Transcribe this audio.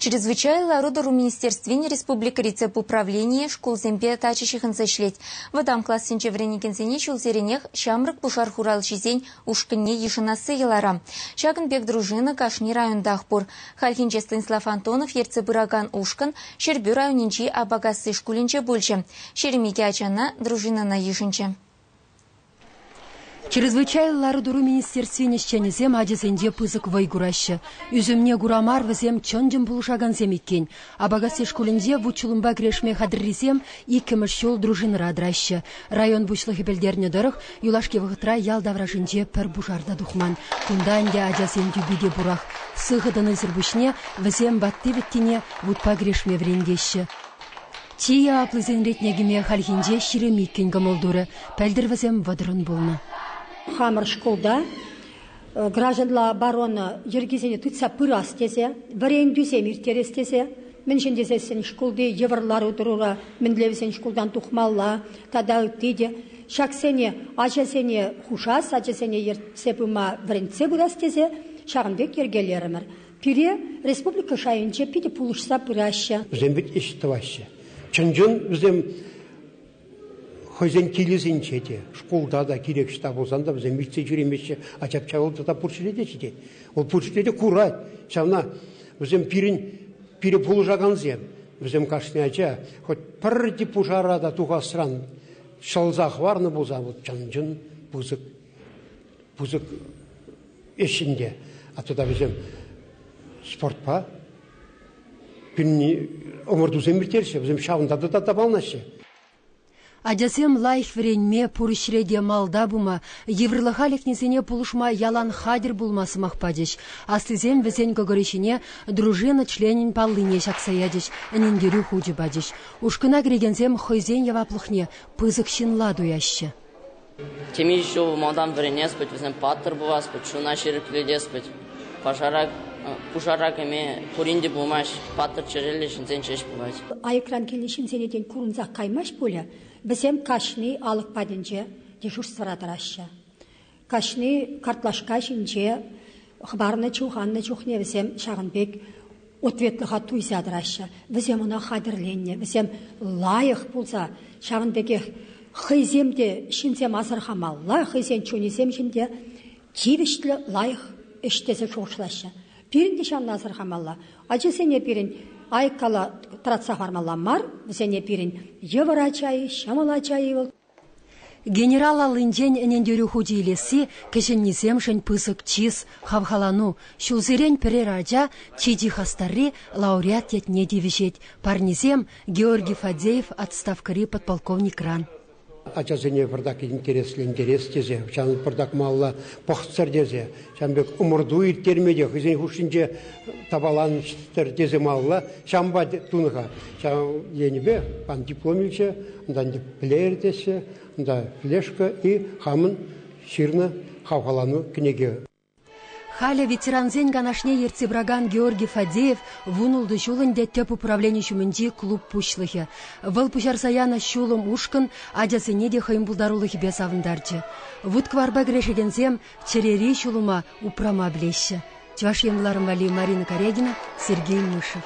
Чрезвычай лару-тӑру министерствин республикӑри тӗп управленийӗ шкулсемпе тачӑ ҫыхӑнса ӗҫлет. Вӑтам классенче вӗренекенсене ҫулсеренех ҫамрӑк пушар хуралҫисен ушкӑнне йышӑнасси йӑлара. Ҫакӑн пек дружина кашни районтах пур. Хальхинче Станислав Антонов ертсе пыракан ушкӑн Ҫӗрпӳ районӗнчи Апакасси шкулӗнче пулчӗ. Ҫирӗм икӗ ачана дружинӑна йышӑнчӗ. Чрезвычай лару-тӑру министерствин ӗҫченӗсем ачасенче пысӑк вӑй хураҫҫӗ. Ӳсӗмне кура мар вӗсем чӑн-чӑн пулӑшакансем иккен. Апакасси шкулӗнче вут-ҫулӑмпа кӗрешме хатӗррисем иккӗмӗш ҫул дружинӑра тӑраҫҫӗ. Район пуҫлӑхӗ пӗлтернӗ тӑрӑх, юлашки вӑхӑтра ял таврашӗнче пӗр пушар та тухман. Кунта ӗнтӗ ачасен тӳпи те пурах. Сыхӑ тӑнисӗр пуҫне вӗсем ватти-вӗттине вутпа кӗрешме вӗрентеҫҫӗ. Чи яваплисен ретне кӗме хальхинче ҫирӗм иккӗн кӑмӑл турӗ, пӗлтӗр вӗсем вӑтӑрӑн пулнӑ. Хамӑр шкулта гражданла оборона йӗркисене тытса пырас тесе, вӗрентӳсем ирттерес тесе мӗншӗн тесессӗн шкулти йывӑр лару-тӑрура мӗнле вӗсен шкултан тухмалла тата ытти те ҫаксене ачасене хушас, ачасене ертсе пыма вӗрентсе пырас тесе ҫакӑн пек йӗркелерӗмӗр. Пире республика шайӗнче питӗ пулӑшса пыраҫҫӗ. Вӗсем вӗт ӗҫ тӑваҫҫӗ. Чӑн-чӑн вӗсем хӑйсен килӗсенче те, шкулта та, кирек ӑҫта пулсан та вӗсем витсе ҫӳремеҫҫӗ. А ҫап-ҫавӑлта та пур ҫӗре те ҫитет. Вӑл пур ҫӗре те курать. Ҫавна вӗсем пирӗн, пире пулӑшакансем. Вӗсем кашни ача хоть пӗрти пушара та тухасран ҫӑлса хӑварнӑ пулсан вӑл чӑн-чӑн пысӑк пысӑк ӗҫшӗн те, а тата вӗсем спортпа пӳнни ӑмӑртусем ирттерҫҫӗ, вӗсем ҫавӑнта та тапалнаҫҫӗ. Ачасем лайӑх вӗренме, пур ӗҫре те малта пыма, йывӑрлӑха лекнисене пулӑшма ялан хатӗр пулма сӑмах пачӗҫ. Аслисем вӗсен кӑкӑрӗ ҫине дружина членӗн паллине ҫакса ячӗҫ, ӗнентерӳ хучӗ пачӗҫ. Ушкӑна кӗрекенсем хӑйсен яваплӑхне пысӑк ҫынла туяҫҫӗ. Темиҫе ҫул малтан вӗренес-пӗт, вӗсем паттӑр пулас пӗт, чуна ҫирӗплетес пӗт. Пушара кӗме пурин те пулмасть, паттӑр чӗреллӗ ҫынсен ҫеҫ пулать. Айӑкран килнӗ ҫынсене тен курӑнсах каймасть пулӗ? Вӗсем каҫни алӑк патӗнче дежурствӑра тӑраҫҫӗ. Каҫни картлашка ҫинче хӑпарнӑ-чуханнӑ чухне вӗсем ҫавӑн пек ответлӑха туйса тӑраҫҫӗ. Вӗсем ӑна хатӗрленнӗ, вӗсем лайӑх пулса, ҫавӑн пекех хӑйсем те ҫынсем асӑрхамалла, хӑйсен чунӗсем ҫинче тивӗҫлӗ лайӑх ӗҫ тесе шухӑшлаҫҫӗ. Пирӗн те ҫавна асӑрхамалла. Ачасене пирӗн айккала тӑратса хӑвармалла мар, вӗсене пирӗн йывӑр ача-и, ҫӑмӑл ача-и вӑл Генерал аллинчен ӗнентерӳ хучӗ илесси кӗҫӗннисемшӗн пысӑк чыс, хавхалану. Ҫулсерен пӗрер ача чи-чи хастарри лауреат ятне тивӗҫет. Парнесем Георгий Фадеев отставкӑри подполковникран. Ачасене пӑртак интереслӗ интерес тесе, ҫавӑн пӑртак малла пӑхтӑр тесе Ҫавӑн пек ӑмӑрту ирттерме те хӑйсен хушшинче тапаланччӑр тесе малалла ҫампа тунӑ-ха. Ҫав енӗпе ан диплом илсе, унтан флеер теҫҫӗ, унтан флешка и хамӑн ҫырнӑ хавхалану кӗнеке. Халӗ ветерансен канашне ертсе пыракан Георгий Фадеев вун ултӑ ҫул ӗнтӗ тӗп управлени ҫумӗнчи клуб пуҫлӑхӗ. Вӑл пуҫарса янӑ ҫулӑм ушкӑн ачасене те хӑйӗн пултарулӑхӗпе савӑнтарчӗ. Вут-кӑварпа кӗрешекенсем Чӗрери ҫулӑма упрама пӗлеҫҫӗ Чӑваш Енларӑм валли Марина Карягина, Сергей Мышев.